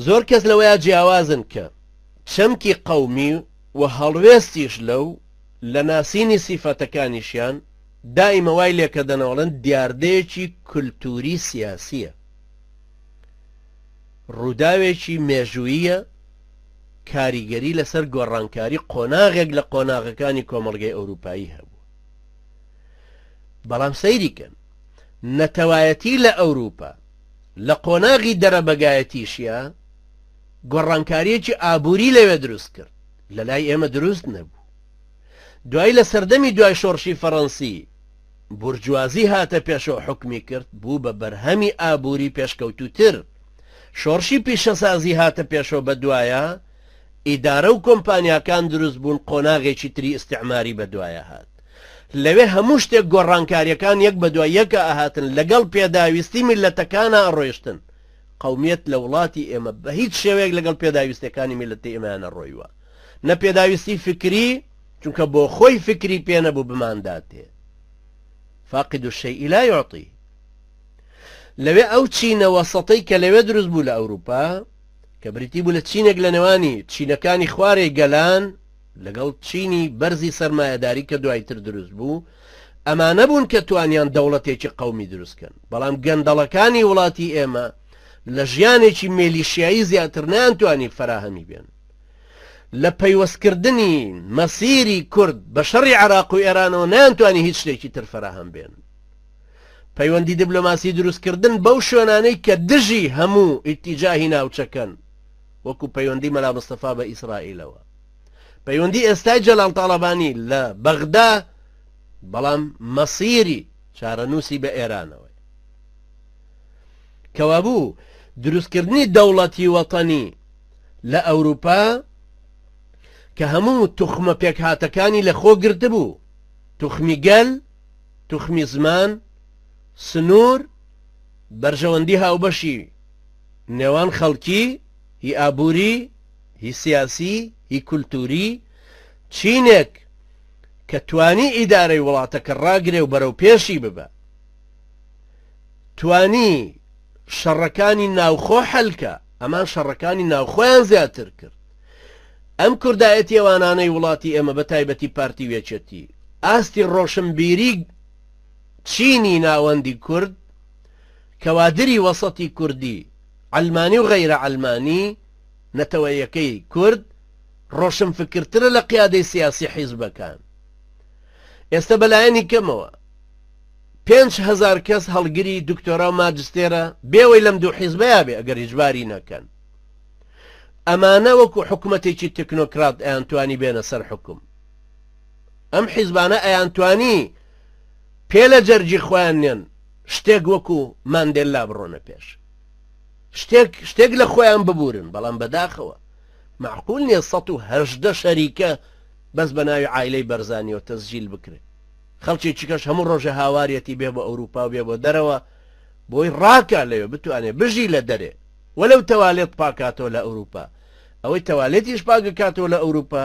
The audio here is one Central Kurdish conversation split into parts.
زۆر کەس لەوەیا جیاوازن کە چەمکی قەومی و هەڵوێستیش لەو لە ناسینی سیفەتەکانیشیان دائیمە وای لێکەدەن ئەڵێن دیاردەیەکی کولتووری سیاسیە ڕووداوێکی مێژوویە کاریگەری لەسەر گۆڕانکاری قۆناغێک لە قۆناغەکانی کۆمەڵگەی ئەوروپایی هەبوو بەڵام سەیریکەن نەتەوایەتی لە ئەوروپا لە قۆناغی دەرەبەگایەتیشیا گۆڕانکاریەکی ئابووری لەوێ دروست کرد لە لای ئێمە دروست نەبوو دوای لە سەردەمی دوای شۆڕشی فەڕەنسی بورجوازی هاتە پێشەوە حکمی کرد بوو بە بەرهەمی ئابووری پێشکەوتوتر شۆڕشی پیشەسازی هاتە پێشەوە بە دوایە ئیدارە و کۆمپانیاکان دروست بوون قۆناغێکی تری ئیسعماری بە دوایە هات لەوێ هەموو شتێک گۆڕانکاریەکان یەک بە دوای یەکە ئەهاتن لەگەڵ پێداویستی میللەتەکانا ئەڕۆیشتن قەومیەت لە وڵاتی ئێمە بە هیچ شێوەیەک لەگەڵ پێداویستەکانی میللەتی ئێمەیا نەڕۆیوە نە پێداویستی فکری چونکە بۆ خۆی فکری پێ نەبوو بمانداتێ فاقد الشيء لا يعطي لەوێ ئەو چینە وەسەتەی کە لەوێ دروست بوو لە ئەوروپا کە بریتی بوو لە چینێک لە نێوانی چینەکانی خوارێ گەلان لەگەڵ چینی بەرزی سەرمایەداری کە دوایتر دروست بوو، ئەمانە بوون کە توانیان دەوڵەتێکی قەومی دروست کەن، بەڵام گەندەڵەکانی وڵاتی ئێمە لە ژیانێکی مێلیشیایی زیاتر نەیانتوانی فەراهەمی بێن. لە پەیوەست کردنی مەسیری کورد بە شەڕی عێراق و ئێرانەوە نەیانتوانی هیچ شتێکی تر فەراهەم بێن. پەیوەندی دیبلۆماسی دروست کردن بەو شوێنانەی کە دژی هەموو ئیتیجاهی ناوچەکەن، وەکو پەیوەندی مەلا مستەفا بە ئیسرائیلەوە. پەیوەندی ئێستای جەلال تاڵەبانی لە بەغدا بەڵام مەسیری چارەنووسی بە ئێرانەوەی کەوابوو دروستکردنی دەوڵەتی وەتەنی لە ئەوروپا کە هەموو توخمە پێکهاتەکانی لە خۆ گرتبوو توخمی گەل توخمی زمان سنوور بەرژەوەندی هاوبەشی نێوان خەڵکی هی ئابووری هی سیاسی، هی کولتووری، چینێک کە توانی ئیدارەی وڵاتەکە ڕاگرێ و بەرەو پێشی ببا. توانی شەڕەکانی ناوخۆ حەل کا، ئەمان شەڕەکانی ناوخۆیان زیاتر کرد. ئەم کوردایەتیەوانانەی وڵاتی ئێمە بە تایبەتی پارتی و یەکێتی، ئاستی ڕۆشنبیری چینی ناوەندی کورد، کەوادری وەسەتی کوردی، عەلمانی و غەیرە عەلمانی، نەتەوەیەکەی کورد ڕۆشنفکرترە لە قیادەی سیاسی حیزبەکان ئێستا بەلایەنی کەمەوە پێنج هەزار کەس هەڵگری دکتۆرا و ماجستێرە بێوەی لەم دوو حیزبەیە بێ ئەگەر هیچباری نەکەن ئەمانە وەکو حکوومەتێکی تەکنۆکرات ئەیانتوانی بێنە سەر حکوم ئەم حیزبانە ئەیانتوانی پێ لە جەرجی خۆیان نێن شتێک وەکو ماندێللا بڕۆنە پێش شتێک شتێک لە خۆیان ببورن بەڵام بەداخەوە معقول نیە ١١٨ شەریکە بەس بە ناوی عایلەی بەرزانیەوە تەسجیل بکرێت خەڵکی چکەش هەموو ڕۆژێ هاوارەتی بێ بە ئەوروپا و بێ بۆ دەرەوە بۆی ڕاکە لەوێ بتوانێ بژی لە دەرێ وەلەو تەوالێت پاکاتەوە لە ئەوروپا ئەوەی تەوالێتیش پاکەکاتەوە لە ئەوروپا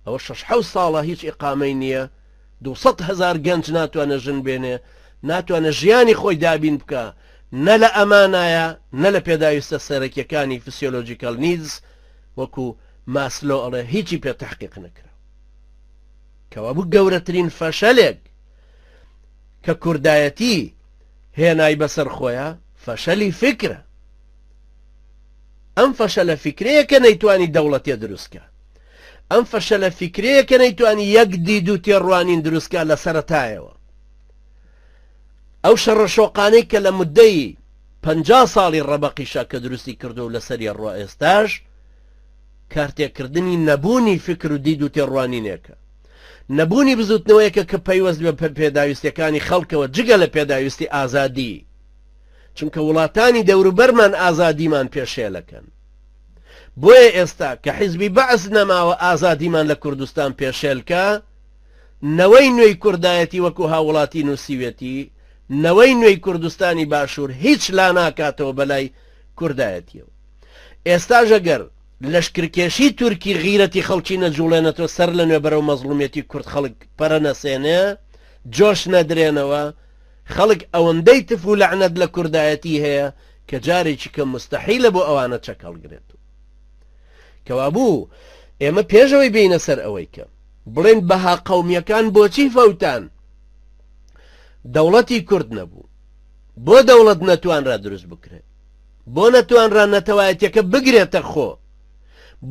ئەوە شەش حەوت ساڵە هیچ ئیقامەی نیە دوو سەد هەزار گەنج ناتوانێ ژن بێنێ، ناتوانێ ژیانی خۆی دابین بکا، نە لە ئەمانایە، نە لە پێداویستە سەرەکیەکانی Physiological Needs وەکو ماسلۆ ئەڵێ هیچی پێ تەحقیق نەکراو. کەوابوو گەورەترین فەشەلێک کە کوردایەتی هێنای بەسەر خۆیا فەشەلی فیکرە. ئەم فەشەلە فیکرەیە کە نەیتوانی دەوڵەتێ دروست کا. ئەم فەشەلە فیکرەیە کە نەیتوانی یەک دید و تێڕوانین دروستکە لە سەرەتایەوە ئەو شەڕە شۆقانەی کە لە مدەی پ ساڵی ڕەبەقیشە کە دروستی کردو و لەسەری ڕۆ ئێستاش کارتێکردنی نەبوونی فکر و دید و تێڕوانینێکە نەبوونی بزوتنەوەیەکە کە پەیوەست بە پێداویستەکانی خەڵکەوە جگە لە پێداویستی ئازادی چونکە وڵاتانی دەوروبەرمان ئازادیمان پێشێلەکەن بۆیە ئێستا کە حیزبی بەعس نەماوە ئازادیمان لە کوردستان پێشێلکە نەوەی نوێی کوردایەتی وەکو هاوڵاتی نووسیوێتی نەوەی نوێی کوردستانی باشوور هیچ لا ناکاتەوە بەلای کوردایەتیەوە ئێستاژە گەر لەشکرکێشی تورکی غیرەتی خەڵکی نەجوڵێنەتەوە سەر لە نوێ بەرەو مەزڵومیەتی کورد خەڵک پەرە نەسێنێ جۆش نەدرێنەوە خەڵک ئەوەندەی تف و لەعنەت لە کوردایەتی هەیە کە جارێکی کەم مستەحیلە بۆ ئەوانە چەک هەڵگرێت و کەوابوو ئێمە پێش ئەوەی بینە سەر ئەوەی کە بڵێن بەها قەومیەکان بۆچی فەوتان دەوڵەتی کورد نەبوو بۆ دەوڵەت نەتوانرا دروست بکرێت بۆ نەتوانرا نەتەوایەتەکە بگرێتە خۆ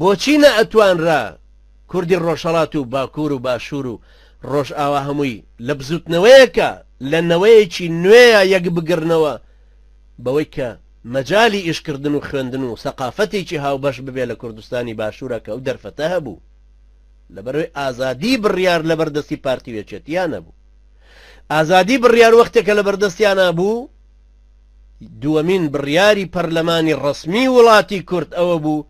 بۆچی نە ئەتوانرا کوردی ڕۆژهڵات و باکوور و باشوور و ڕۆژئاوا هەمووی لە بزوتنەوەیەکە لە نەوەیەکی نوێە یەک بگرنەوە بەوەی کە مەجالی ئیشکردن و خوێندن و سەقافەتێکی هاوبەش ببێ لە کوردستانی باشوورا کە ئەو دەرفەتە هەبوو لەبەرئەوەی ئازادی بڕیار لەبەر دەستی پارتی و یەکێتیا نەبوو ئازادی بڕیار وەختێکە لەبەر دەستیانا بوو دووەمین بڕیاری پەرلەمانی ڕەسمی وڵاتی کورد ئەوە بوو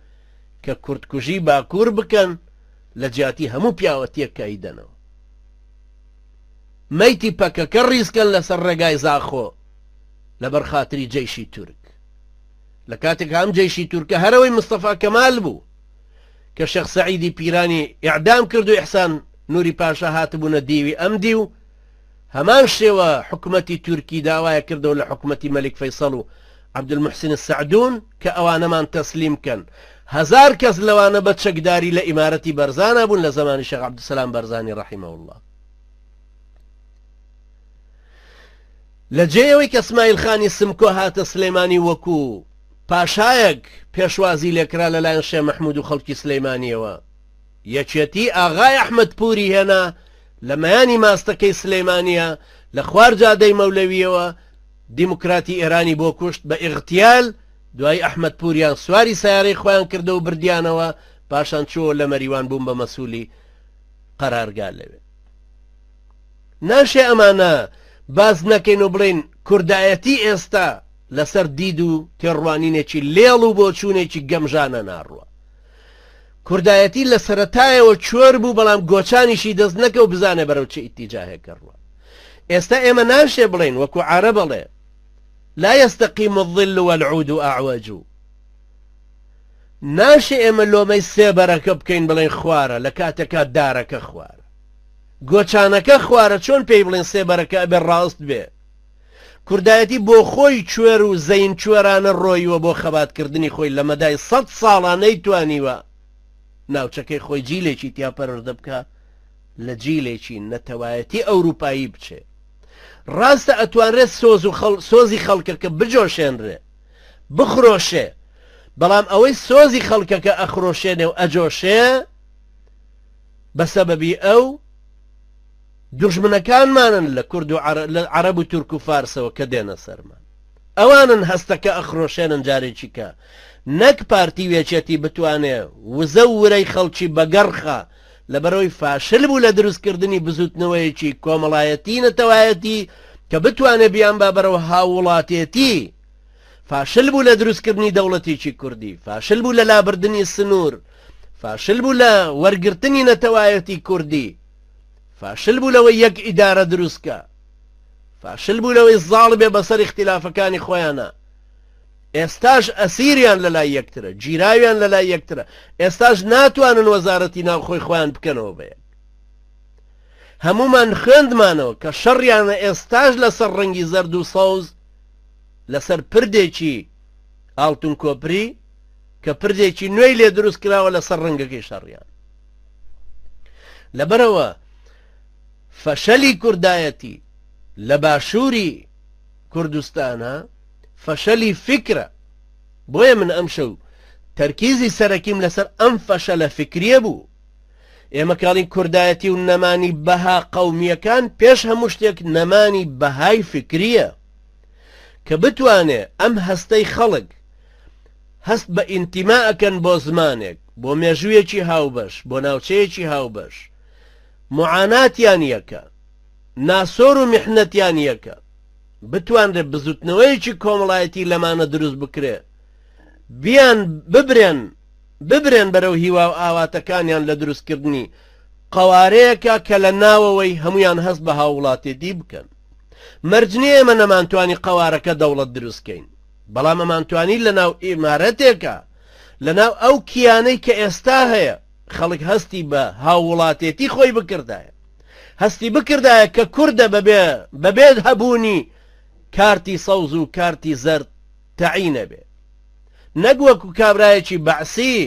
کە کوردکوژی باکوور بکەن لە جیاتی هەموو پیاوەتیەک کە ئەیدەنەوە میتی پەکەکە ڕیزکەن لەسەر ڕێگای زاخۆ لەبەر خاتری جەیشی تورک لە کاتێک هەم جەیشی تورکە هەرەوەی مستەفا کەمال بوو کە شەخ سەعیدی پیرانی ئعدام کرد و ئحسان نوری پاشا هاتبوونە دیوی ئەم دیو هەمان شێوە حکومەتی تورکی داوایە کردەوە لە حکومەتی مەلیک فەیسەڵ و عبدالمحسن السعدون کە ئەوانەمان تەسلیم کەن هەزار کەس لەوانە بە چەکداری لە ئیمارەتی بەرزانا بوون لە زەمانی شێخ عبدالسلام بەرزانی رحمە اللە لە جێ ئەوەی کە سمایل خانی سمکۆ هاتە سلێمانی وەکو پاشایەک پێشوازی لێکرا لەلایەن شێ مححمود و خەڵکی سلەیمانیەوە یەکێتی ئاغای ئەحمد پوری هێنا لە مەیانی ماستەکەی سلەیمانە لە خوار جادەی مەولەویەوە دیموکراتی ئێرانی بۆ کوشت بە ئیغتیال، دوایی ئەحمەد پوریان سواری سەیارەی خۆیان کردەوە بردیانەوە، پاشان چووەوە لە مەریوان بوون بە مەسولی قەرارگا لەوێ. ناشێ ئەمانە باس نەکەین و بڵێین کوردایەتی ئێستا لەسەر دید و تێڕوانینێکی لێڵ و بۆچوونێکی گەمژانە ناڕوا. کوردایەتی لە سەرەتایەوە چۆر بوو بەڵام گۆچانیشی دەست نەکەو بزانە بەرەو چ ئیتیجاهێک گەڕوە ئێستا ئێمە ناشێ بڵێین وەکو عارەب ئەڵێ لا يستقیم الظل والعود اعوج ناشێ ئێمە لۆمەی سێبەرەکە بکەین بڵێن خوارە لە کاتێکا دارەکە خوارە گۆچانەکە خوارە چۆن پێی بڵێن سێبەرەکە ئەبێ ڕاست بێ کوردایەتی بۆ خۆی کوێر و زەین کوێرانە ڕۆیوە بۆ خەبات کردنی خۆی لە مەدای سەد ساڵا نەیتوانیوە ناوچەکەی خۆی جیلێکی تیا پەروەردە بکا لە جیلێکی نەتەوایەتی ئەوروپایی بچێ ڕاستە ئەتوانرێ سۆز و خەڵ سۆزی خەڵکەکە بجۆشێنرێ بخرۆشێ بەڵام ئەوەی سۆزی خەڵکەکە ئەخرۆشێنێ و ئەجۆشێ بە سەبەبی ئەو دوژمنەکانمانن لە کورد و لە عەرەب و تورک و فارسەوە کە دێنە سەرمان ئەوانن هەستەکە ئەخرۆشێنن جارێکی کە نەک پارتی و یەکێتی بتوانێ وزە و ورەی خەڵکی بەگەڕخا لەبەرەوەی فاشل بوو لە دروستکردنی بزووتنەوەیەکی کۆمەڵایەتی نەتەوایەتی کە بتوانێ بیانبا بەرەو هاووڵاتێتی فاشل بوو لە دروستکردنی دەوڵەتێکی کوردی فاشل بوو لە لابردنی سنوور فاشل بوو لە وەرگرتنی نەتەوایەتی کوردی فاشل بوو لەوەی یەک ئیدارە دروست کا فاشل بوو لەوەی زاڵ بێ بەسەر اختلافەکانی خۆیانە ئێستاش ئەسیریان لەلای یەکترە گیراویان لەلای یەکترە ئێستاش ناتوانن وەزارەتی ناو خۆی خۆیان بکەنەوە بە یەک هەمومان خوێندمانەوە کە شەڕیانە ئێستاش لەسەر ڕەنگی زەرد و سەوز لەسەر پردێکی ئاڵتون کۆپری کە پردێکی نوێی لێ دروست کراوە لەسەر ڕەنگەکەی شەڕیان لەبەرئەوە فەشەلی کوردایەتی لە باشووری کوردستانە فەشەلی فکرە بۆیە من ئەم شەو تەرکیزی سەرەکیم لەسەر ئەم فەشە لە فکریە بوو ئێمە کاڵین کوردایەتی و نەمانی بەها قەومیەکان پێش هەموو شتێک نەمانی بەهای فکریە کە بتوانێ ئەم هەستەی خەڵک هەست بە ئینتیما ئەکەن بۆ زمانێک، بۆ مێژوویەکی هاوبەش، بۆ ناوچەیەکی هاوبەش. موعاناتیان یەکە. ناسۆر و میحنەتیان یەکە. بتوانرێ بزوتنەوەیەکی کۆمەڵایەتی لەمانە دروست بکرێ. بیان ببرێن، ببرێن بەرەو هیوا و ئاواتەکانیان لە دروست کردنی قەوارەیەکا کە لە ناوەوەی هەموویان هەست بە هاووڵاتێتی بکەن. مەرج نیە ئێمە نەمانتوانی قەوارەکە دەوڵەت دروست کەین. بەڵام ئەمانتوانی لە ناو ئیمارەتێکا، لە ناو ئەو کیانەی کە ئێستا هەیە، خەڵک هەستی بە هاووڵاتێتی خۆی بکردایە. هەستی بکردایە کە کوردە بەبێ بەبێ هەبوونی کارتی سەوز و کارتی زەرد تەعی نەبێ. نەک وەکوو کابرایەکی بەعسی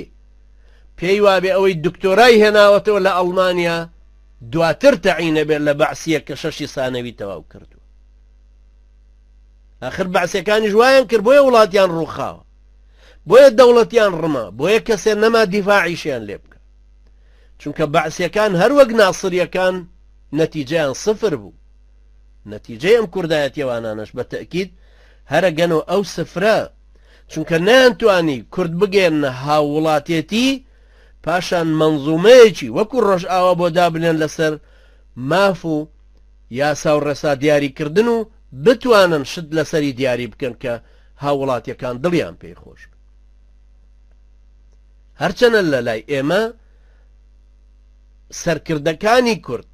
پێی وابێ ئەوەی دکتۆرای هێناوەتەوە لە ئەڵمانیا دواتر تەعی نەبێ لە بەعسییەک کە شەشی سانەوی تەواو کردووە. ئاخر بەعسەکانیش وایان کرد بۆیە وڵاتیان ڕووخاوە بۆیە دەوڵەتیان ڕما بۆیە کەسێ نەما دیفاعیشیان لێ بکە چونکە بەعسیەکان هەروەک ناسریەکان نەتیجیان سفر بوو نەتیجەی ئەم کوردایەتیەوانانش بە تەکید هەرە گەن و ئەو سفرە چونکە نەیانتوانی کورد بگەێنە هاووڵاتێتی پاشان منزومەیەکی وەکو ڕۆژئاوا بۆ دابنێن لەسەر ماف و یاسا و ڕێسا دیاری کردن و بتوانن شت لەسەری دیاری بکەن کە هاووڵاتیەکان دڵیان پێی خۆش بێت هەرچەنە لە لای ئێمە سەرکردەکانی کورد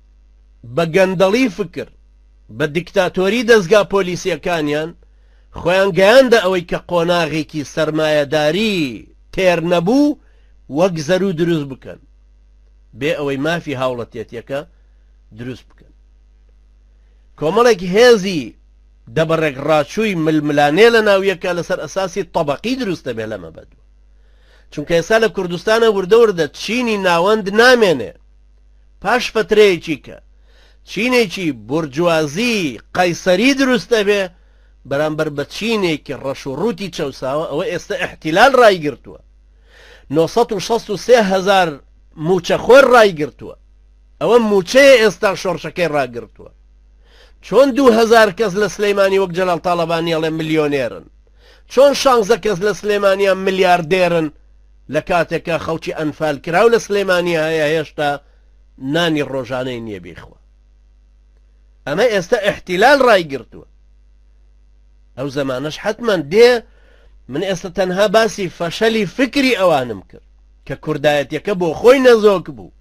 بە گەندەڵی فکر بە دیکتاتۆری دەستگا پۆلیسیەکانیان خۆیان گەیاندە ئەوەی کە قۆناغێکی سەرمایەداری تێر نەبوو وەک زەرو دروست بکەن بێ ئەوەی مافی هاوڵەتێتیەکە دروست بکەن کۆمەڵێک هێزی دەبڕێک ڕاچووی ململانێ لە ناویەکە لەسەر ئەساسی تەبقی دروستە بێ لەمە بەدووە چونکە ئێستا لە کوردستانە وردەوردە چینی ناوەند نامێنێ پاش فترەیەکی کە چینێکی بورجوازی قەیسەری دروستە بێ بەرامبەر بە چینێکی ڕەش و ڕووتی چەساوە ئەوە ئێستا احتیلال ڕایگرتووە 963 هزار موچەخۆر ڕایگرتووە ئەوە موچەیە ئێستا شۆڕشەکەی ڕاگرتوە چۆن دوو هەزار کەس لە سلیمانی وەک جەلال تاڵەبانی ئەڵێ ملیۆنێرن چۆن شانزە کەس لە سلێمانیان ملیاردێرن لە کاتێکا خەڵکی ئەنفال کراو لە سلێمانی هەیە هێشتا نانی ڕۆژانەی نییە بیخوا ئەمە ئێستا احتیلال ڕای گرتووە ئەو زمانش حتمما دێ من ئێستا تەنها باسی فەشەلی فکری ئەوانم کرد کە کوردایەتەکە بۆ خۆی نەزۆک بوو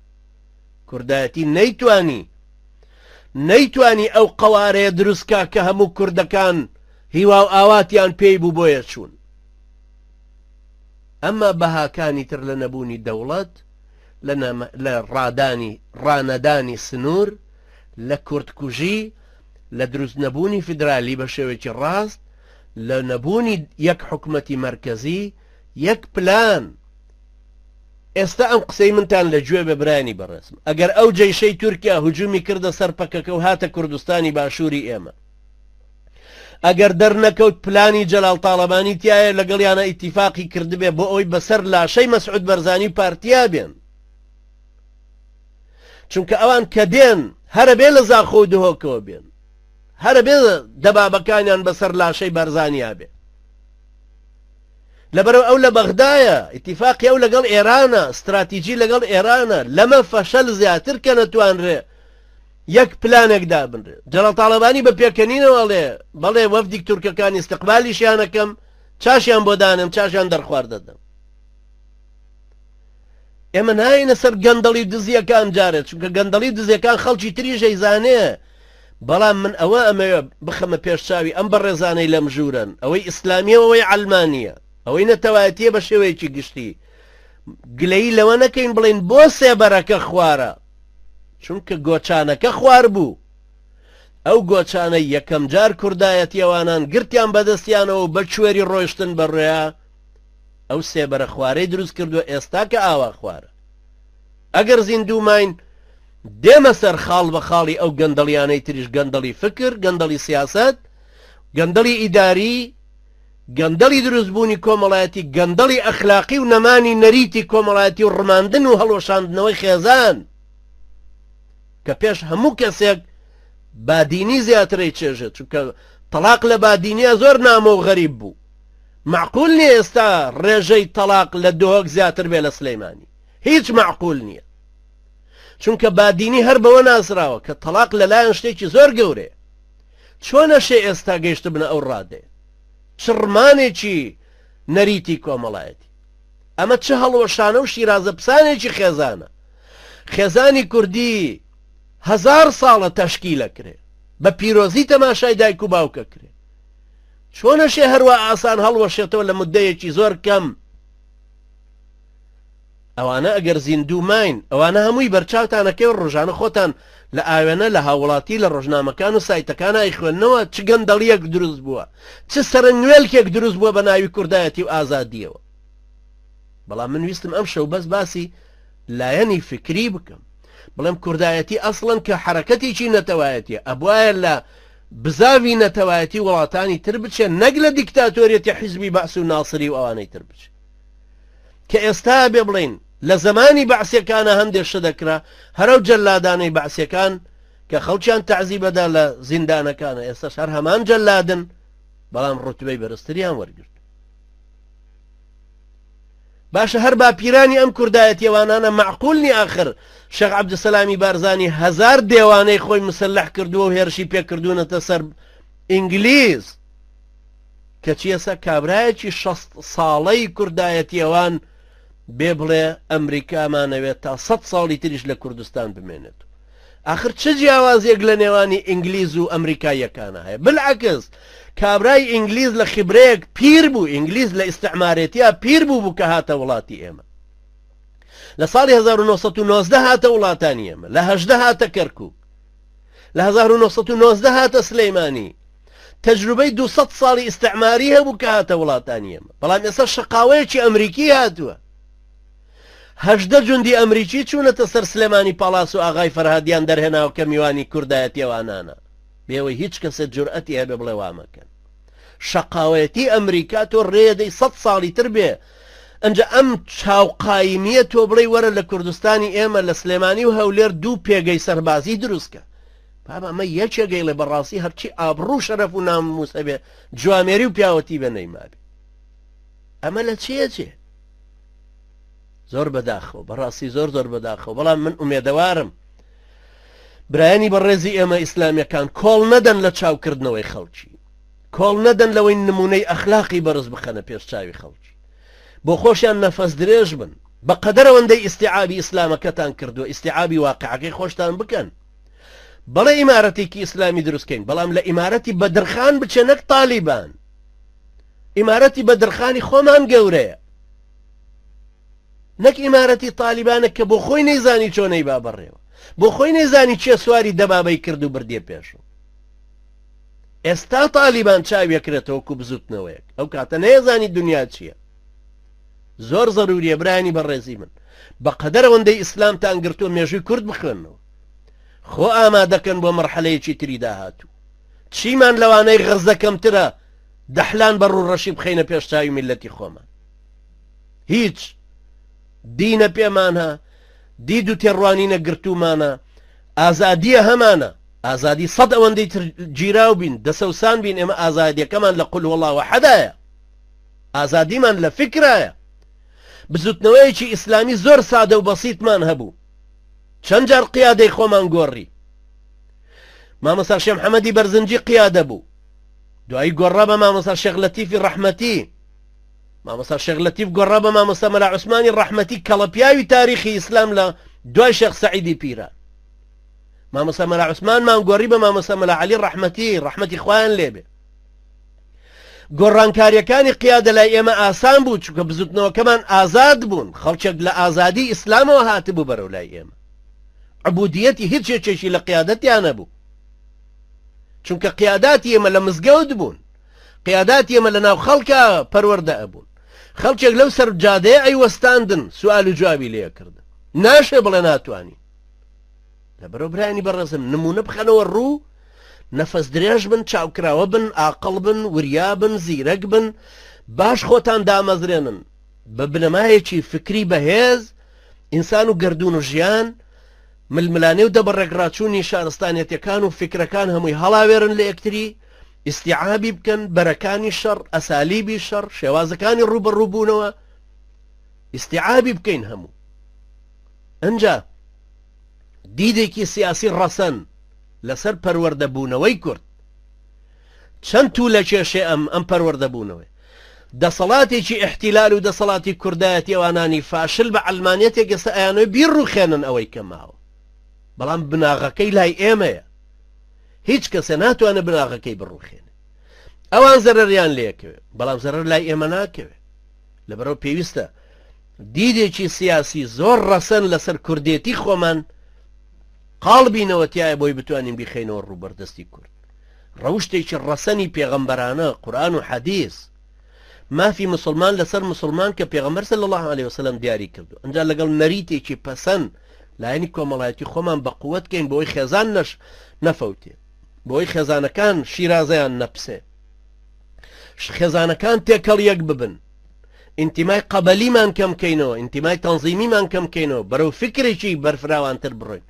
کوردایەتی نەیتوانی نەیتوانی ئەو قەوارەیە دروستکە کە هەموو کوردەکان هیوا و ئاواتیان پێی بوو بۆیە چوون ئەمە بەهاکانی تر لە نەبوونی دەوڵەت لە ڕادانی ڕانەدانی سنوور لە کوردکوژی لە دروست نەبوونی فیدرالی بە شێوێکی ڕاست لە نەبوونی یەک حکومەتی مرکزی یەک پلان ئێستا ئەم قسەی منتان لە گوێ بێ برایانی بەڕێزم ئەگەر ئەو جەیشەی تورکیا هجومی کردە سەر پەکەکە و هاتە کوردستانی باشووری ئێمە ئەگەر دەرنەکەوت پلانی جەلال تاڵەبانی تایە لەگەڵیانە ئیتیفاقی کردبێ بۆ ئەوی بەسەر لاشەی مەسعود بەرزانی و پارتیا بێن چونکە ئەوان کە دێن هەرە بێ لە زاخۆ و دهۆکەوە بێن هەرە بێ دەبابەکانیان بەسەر لاشەی بەرزانیا بێ لەبەرەوە ئەو لە بەغدایە ئیتیفاقی ئەو لەگەڵ ئێرانە ستراتیجی لەگەڵ ئێرانە لەمە فەشەل زیاتر کە نەتوانرێ یەک پلانێک دابنرێ جەنەڕاڵ تاڵەبانی بە پێکەنینەوە ئەڵێ بەڵێ وەفدیک تورکەکانی استقبالیشیانەکەم چاشیان بۆ دانێم چاشیان دەرخوارد دەدەم ئێمە ناینە سەر گەندەڵی دزیەکان جارێت چونکە گەندەڵی دزیەکان خەڵکی تریژەی زانێ بەڵام من ئەوە ئەمەوێ بخەمە پێش چاوی ئەم بەڕێزانەی لەم ژوورەن، ئەوەی ئیسلامییە و ئەوەی عەلمانییە، ئەوەی نەتەوایەتییە بە شێوەیەکی گشتی، گلەیی لەوە نەکەین بڵێین بۆ سێبەرەکە خوارە؟ چونکە گۆچانەکە خوار بوو. ئەو گۆچانەی یەکەم جار کوردایەتی ئەوانان گرتیان بە دەستیانەوە و بە کوێری ڕۆیشتن بە ڕێیا، ئەو سێبەرە خوارەی دروست کردووە ئێستا کە ئاوا خوارە. ئەگەر زیندوو ماین، دێمە سەر خاڵ بە خاڵی ئەو گەندەڵیانەی تریش گەندەڵی فکر، گەندەڵی سیاسەت، گەندەڵی ئیداری، گەندەڵی دروست بوونی کۆمەڵایەتی، گەندەڵی ئەخلاقی و نەمانی نەریتی کۆمەڵایەتی و ڕماندن و هەڵوەشاندنەوەی خێزان کە پێش هەموو کەسێک بادینی زیاتر ئەیچێژێت چونکە تەڵاق لە بادینیا زۆر نامۆ و غەریب بوو مەعقول نیە ئێستا ڕێژەی تەڵاق لە دهۆک زیاتر بێ لە سلیمانی. هیچ معقول نییە چونکە بادینی هەر بەوە ناسراوە کە تەلاق لەلایەن شتێکی زۆر گەورێ چۆنە شێ ئێستا گەیشت بنە ئەو ڕادێ چڕمانێکی نەریتی کۆمەڵایەتی ئەمە چه هەڵوەشانە و شیرازە پسانێکی خێزانە خێزانی کوردی هزار ساڵە تەشکی لەکرێ بە پیرۆزی تەماشای دایک و باوکە کرێ چۆنەشێ هەروە ئاسان هەڵوەشێتەوە لە مدەیەکی زۆر کەم ئەوانە ئەگەر زیندوو ماین ئەوانە هەمووی بەرچاوتان ئەکەوێ ڕۆژانە خۆتان لە ئاوێنە لە هاووڵاتی لە ڕۆژنامەکان و سایتەکانا ئەیخوێننەوە چ گەندەڵیەک دروست بووە چ سەرەنگوێلکێک دروست بووە بە ناوی کوردایەتی و ئازادیەوە بەڵام من ویستم ئەم شەو بەس باسی لایەنی فکری بکەم بڵێم کوردایەتی ئەسڵەن کە حرەکەتێکی نەتەوایەتی ئەبواە لە بزاوی نەتەوایەتی وڵاتانی تر بچێت نەک لە دیکتاتۆریەتی حیزبی بەعس و ناسری و ئەوانەی تر بچێت کە ئێستایە بێ بڵێین لە زەمانی بەعسیەکانا هەندێ شتە دەکرا هەرەو جەلادانەی بەعسیەکان کە خەڵکیان تەعزیبەدا لە زیندانەکانا ئێستەش هەر هەمان جەلادن بەڵام ڕوتبەی بەرزتریان وەرگرت باشە هەر باپیرانی ئەم کوردایەتێوانانە معقولنی ئاخر شەق عبدسەلامی بارزانانی هزار دێوانەی خۆی مسلح کردووە و هێرشی پێکردوونەتە سەر ئینگلیز کەچی ئێستا کابرایەکی شەست ساڵەی کوردایەتیەوان بێ بڵێ ئەمریکامانەوێت تا سە ساڵی تریش لە کوردستان بمێنێت آخر چ جیاوازێک لە نێوانی ئینگلیز و ئەمریکاییەکانە هەیە بالعکس کابرای ئینگلیز لە خیبرەیەک پیر بوو ئینگلیز لە ئیسعمارێتیا پیر بوو بوو کە هاتە وڵاتی ئێمە لە ساڵی 1990 هاتە وڵاتانی ئێمە لە هەشدە هاتە کەرکک لە 1990 هاتە سلەیمانی تەجروبەی دوو سەد ساڵی ئیستعماری هەبوو کە هاتە وڵاتانی ئێمە بەڵام ئێستا شەقاوەیەکی ئەمریکی هاتووە هەژدە جوندی ئەمریکی چوونەتە سەر سلێمانی پاڵاس و ئاغای فەرهادیان دەرهێناوە کە میوانی کوردایەتی ئەوانانە بێەوەی هیچ کەسێت جورئەتی هەبێ بڵێ وامەکەن شەقاوەتی ئەمریکا تۆ ڕێدەی سەد ساڵی تر بێ ئەجا ئەم چاوقایمیە تۆ بڵێ وەرە لە کوردستانی ئێمە لە سلێمانی و هەولێر دوو پێگەی سەربازی دروستکە بابە ئەمە یەکێک گەیڵێ بەڕاستی هەرچی ئابڕوو شەرەف و ناموس هەبێ جوامێری و پیاوەتی بە نەیمابێ ئەمە لە چێ چێ زۆر بەداخەوە بەڕاستی زۆر زۆر بەداخەوە بەڵام من ئومێدەوارم برایانی بەڕێزی ئێمە ئیسلامیەکان کۆڵ نەدەن لە چاوکردنەوەی خەڵکی کۆڵ نەدەن لەوەی نمونەی ئەخلاقی بەرز بخەنە پێش چاوی خەڵکی بۆ خۆشیان نەفەس درێژ بن بە قەدەرەوەندەی ئیسیعابی ئیسلامەکەتان کردووە ئیسیعابی واقعەکەی خۆشتان بکەن بەڵێ ئیمارەتێکی ئیسلامی دروستکەین بەڵام لە ئیمارەتی بەدرخان بچێ نەک تالیبان ئیمارەتی بەدرخانی خۆمان گەورەیە نەک ئیمارەتی تالیبانە کە بۆ خۆی نەیزانی چۆنەی با بەڕێوە بۆ خۆی نەیزانی چێ سواری دەبابەی کرد و بردیە پێشوو ئێستا تالیبان چاویەکرێتەوە کو بزوتنەوەیەک ئەو کاتە نەیەزانی دنیا چییە زۆر زەروریە برانی بەڕێزی من بەقەدەر ئەوەندەی ئیسلامتان گرتووە مێژووی کورد بخوێنەوە خۆ ئامادەکەن بۆ مەرحەلەیەکی تری داهاتوو چیمان لەوانەی غەزە کەمترە دەحلان بە ڕوڕەشی بخینە پێش چاوی میلەتی خۆمان هیچ دینە پێمانە دید و تێڕوانینە گرتومانە ئازادیە هەمانە ئازادی سەد ئەوەندەی تر گیراو بین دەسەوسان بین ئێمە ئازادیەکەمان لە قل وڵاوە حەدایە ئازادیمان لە فیکرایە. بزوتنەوەیەکی ئیسلامی زۆر سادە و بەسیتمان هەبوو. چەند جار قیادەی خۆمان گۆڕی. مامۆستا شێ محەمەدی بەرزنجی قیادە بوو. دوایی گۆڕا بە مامۆستا شێخ لەتیفی ڕەحمەتی. مامۆستا شێخ لەتیف گۆڕا بە مامۆستا مەلا عوسمانی ڕەحمەتی کەڵەپیاوی تاریخی ئیسلام لە دوای شێخ سەعیدی پیران. مامۆستا مەلا عوسمانمان گۆڕی بە مامۆستا مەلا عەلی ڕەحمەتی ڕەحمەتی خوایان لێبێ. گۆڕانکاریەکانی قیادە لای ئێمە ئاسان بوو چونکە بزوتنەوەکەمان ئازاد بوون خەڵکێک لە ئازادی ئیسلامەوە هاتبوو بەرەو لای ئێمە عبودیەتی هیچ یەکێکی لە قیادەتیانە بوو چونکە قیاداتی ئێمە لە مزگەوت بوون قیاداتی ئێمە لە ناو خەڵکە پەروەەردە ئەبوون خەڵکێک لەو سەر جادەیە ئەی وەستاندن سوال و جوابی لێکردن ناشێ بڵێ ناتوانین لەبەرو برایانی بەڕێزم نمونە بخەنەوە ڕوو نەفەس درێژ بن چاوکراوە بن ئاقڵ بن وریا بن زیرەک بن باش خۆتان دامەزرێنن بە بنەمایەکی فکری بەهێز ئینسان و گردون و ژیان ململانێ و دەبڕێکڕاچوونی شارستانەتەکان و فکرەکان هەمووی هەڵاوێرن لە یەکتری ئیسیعابی بکەن بەرەکانی شەڕ ئەسالیبی شەڕ شێوازەکانی ڕوبەڕووبوونەوە ئیسیعابی بکەین هەموو ئەجا دیدێکی سیاسی ڕەسەن لەسەر پەروەردەبوونەوەی کورد چەند تو لە کێشێ ئەم ئەم پەروەردەبوونەوەی دەسەڵاتێکی ئەحتیلال و دەسەڵاتی کوردایەتی ئەوانانی فاشل بە ئەلمانەتێک گەسە ئەیانۆی بیر ڕوخێنن ئەوەی کەماوە بەڵام بناغەکەی لای ئێمەیە هیچ کەسە ناتوانە بناغەکەی بڕوخێن ئەوان زەرریان لێکەوێت بەڵام زەرر لای ئێمە ناکەوێت لەبەرەوە پێویستە دیدێکی سیاسی زۆر ڕەسەن لەسەر کوردێتی خۆمان قاڵبینەوە تایە بۆی بتوانین بیخەینەوە ڕووبەردەستی کورد ڕەوشتێکی ڕەسەنی پێغەمبەرانە قورآن و حەدیث مافی مسلمان لەسەر مسلمان کە پێغەمبەر صلی الله عليه وسلم دیاری کردو ئەنجا لەگەڵ نەریتێکی پەسەن لایەنی کۆمەڵایەتی خۆمان بە قوت کەین بۆی خێزان نەش نەفەوتێ بۆی خێزانەکان شیرازەیان نەپسێ خێزانەکان تێکەڵ یەک ببن ئینتیمای قەبەلیمان کەم کەینەوە ئینتیمای تەنزیمیمان کەم کەینەوە بەرەو فکرێکی بەرفراوانتر بڕۆین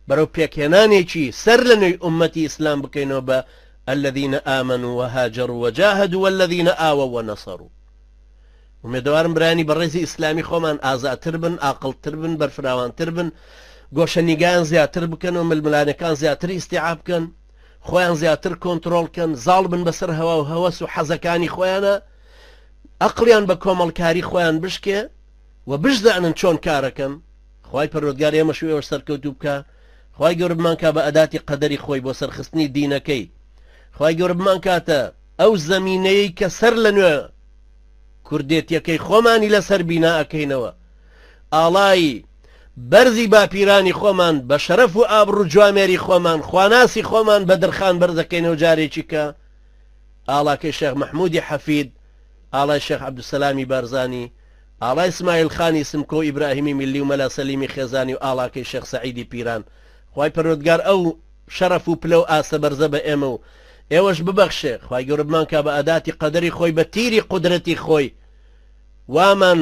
بەرەو پێکهێنانێکی سەر لە نوێی ئومەتی ئیسلام بکەینەوە بە الذين آمنوا وهاجروا وجاهدوا والذين آووا ونصروا ومێدەوارم برانی بەڕێزی ئیسلامی خۆمان ئازاتر بن ئاقلتر بن بەرفراوانتر بن گۆشە نیگایان زیاتر بکەن و ململانەکان زیاتر ئیسیعاب بکەن خۆیان زیاتر کۆنتترۆلکەن زاڵ بن بەسەر هەوا و هەوەس و حەزەکانی خۆیانە ئەقڵیان بە کۆمەڵکاری خۆیان بشکێ و بشزانن چۆن کارەکەن خوای پەروەردگار ئێمەش و ئێوەش سەرکەوتوو بکا خوای گەورە بمانکا بە ئەداتی قەدەری خۆی بۆ سەرخستنی دینەکەی خوای گەورە بمانکاتە ئەو زەمینەیەی کە سەر لە نوێ کوردێتیەکەی خۆمانی لەسەر بینا ئەکەینەوە ئاڵایی بەرزی باپیرانی خۆمان بە شەرەف و ئابڕ و جوامێری خۆمان خواناسی خۆمان بە درخان بەرزەکەینەوە جارێکی کە ئاڵاکەی شێخ مەحموودی حەفید، ئاڵای شێخ عەبدولسەلامی بارزانی، ئاڵای سمایل خانی سمکۆ و ئیبراهیمی میللی و مەلا سەلیمی خێزانی و ئاڵاکەی شێخ سەعیدی پیران، خوای پەروەردگار ئەو شەڕەف و پلە و ئاستە بەرزە بە ئێمە و ئێوەش ببەخشێ، خوای گەورە بمانکا بە ئاداتی قەدەری خۆی بە تیری قودرەتی خۆی وامان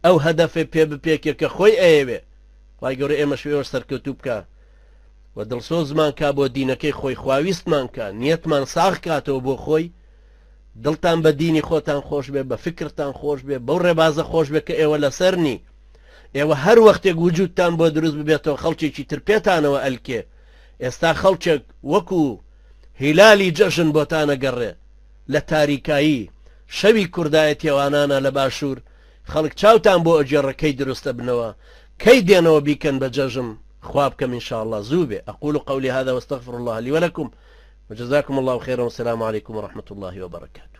ئەو هەدەفەی پێ بپێکێ کە خۆی ئەیەوێ، خوای گەورە ئێمەش و ئێوەش سەرکەوتوو بکا. و دڵسۆزمان کا بۆ دینەکەی خۆی خواویستمان کا نیەتمان ساغ کاتەوە بۆ خۆی دڵتان بە دینی خۆتان خۆش بێ بە فکرتان خۆش بێ بەو ڕێبازە خۆش بێ کە ئێوە لەسەر نی ئێوە هەر وەختێک وجودتان بۆ دروست ببێتەوە خەڵکێکی تر پێتانەوە ئەلکێ ئێستا خەڵکێک وەکو هیلالی جەژن بۆتانە گەڕێ لە تاریکایی شەوی کوردایەتیێوانانە لە باشوور خەڵک چاوتان بۆ ئەگێڕە کەی دروست ئەبنەوە کەی دێنەوە بیکەن بە جەژم خوا بکەم ان شاء اللە زوو بێ اقول قولی هذا واستغفر اللە لی ولکم وجزاکم اللە خیرا والسلام علیکم ورحمة اللە وبرکاته